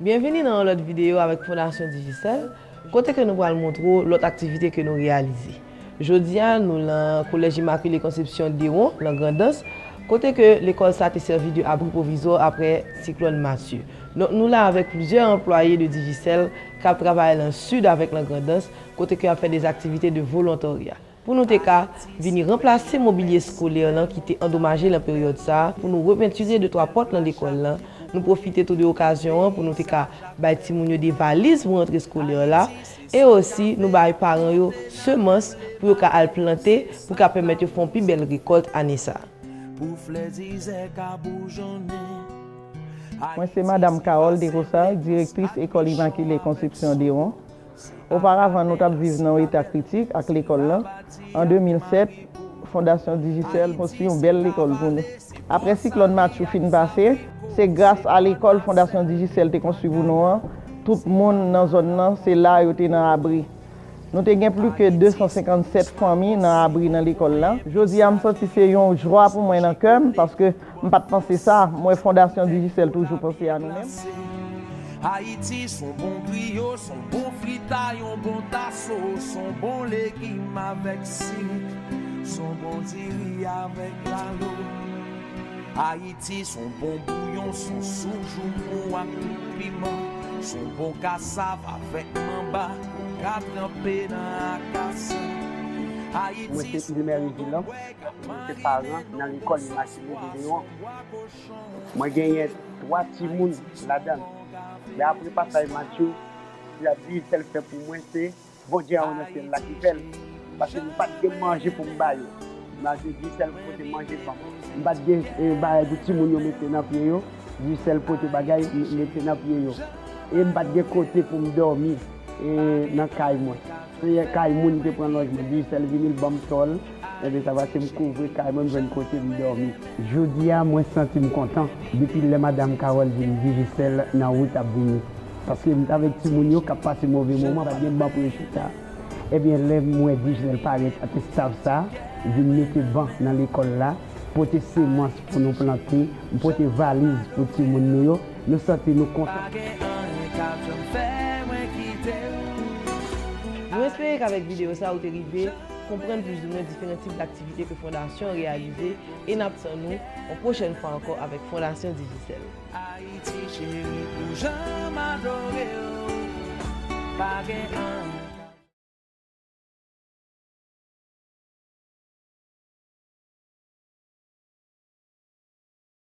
Byenvini nan yon lòt videyo avèk Fondasyon Digicel, kote ke nou pral montre w lòt aktivite ke nou reyalize. Jodi a, nou lan Collège Immaculée Conception Dewon, lan Grandans, kote ke lekòl sa te sèvi de abri pwovizwa aprè siklòn Matthew. Donk nou la avèk plizyè anplwaye de Digicel kap travay lan Sid avèk lan Grandans, kote ke yap fè des aktivite de volontarya. pou nou te ka vini ranplase mobilye eskolè lan ki te andomaje lan peryòd sa a, pou nou repentire de twa pòt lan lekòl lan, nou pwofite tou de okazyon an pou nou te ka bay timoun yo de valiz pou rantre eskolè la, e osi nou bay paran yo semans pou yo ka al plante pou ka pèmèt yo fè yon pi bèl rekòlt ane sa a. Mwen se Madam Carole Desrosard, Direktris Ecole Immaculée Conception Deron, Oparavan nou t ap viv nan yon eta kritik ak lekòl lan. An 2007, Fondasyon Digicel konstwi yon bèl lekòl pou nou. Aprè siklòn Matthew fin pase, se gras a lekòl Fondasyon Digicel te konstwi pou nou an, tout moun nan zòn lan se la yo te nan abri. Nou te gen plis ke 257 fanmi nan abri nan lekòl la. Jodi a m santi se yon jwa pou mwen nan kè m paske M pat panse sa, m wè Fondasyon Digicel toujou panse a nou menm. Mwen se paran nan lekòl Immaculée de Léon. Mwen genyen 3 timoun ladan l. Men apre pasaj Matthew, li ap di sèl frè pou mwen se Bondye anwo nan syèl la ki fè l, paske m pa t gen manje pou m ba yo. Matthew di sèl pote manje ban m. M pa t gen bagay pou timoun yo mete nan pye yo, di sèl pote bagay mete nan pye yo. E m pa t gen kote pou m dòmi nan kay mwen. Seyè kay moun te pran lòjman Dijsèl vini l ban m tò l Enben sa pase m kouvri kay mwen m jwenn kote m dòmi Jodi a mwen santi m kontan Depi lè madam Kawòl di m Dijisèl nan wout ap vini Paske m t avèk timoun yo k ap pase move moman pa t gen ban pou yo chita Enben lè m wè Dijsèl parèt ak estaf sa vin mete ban nan lekòl la pote semans pou nou plante m pote valiz pou timoun nou yo. Nou santi nou kontan. Nou espere k'avèk videyo sa ou te rive konprann plizoumwen diferan tip d'aktivite ke Fondasyon an reyalize e n'ap tann ou yon pwochèn fwa ankò avèk Fondasyon Digicel.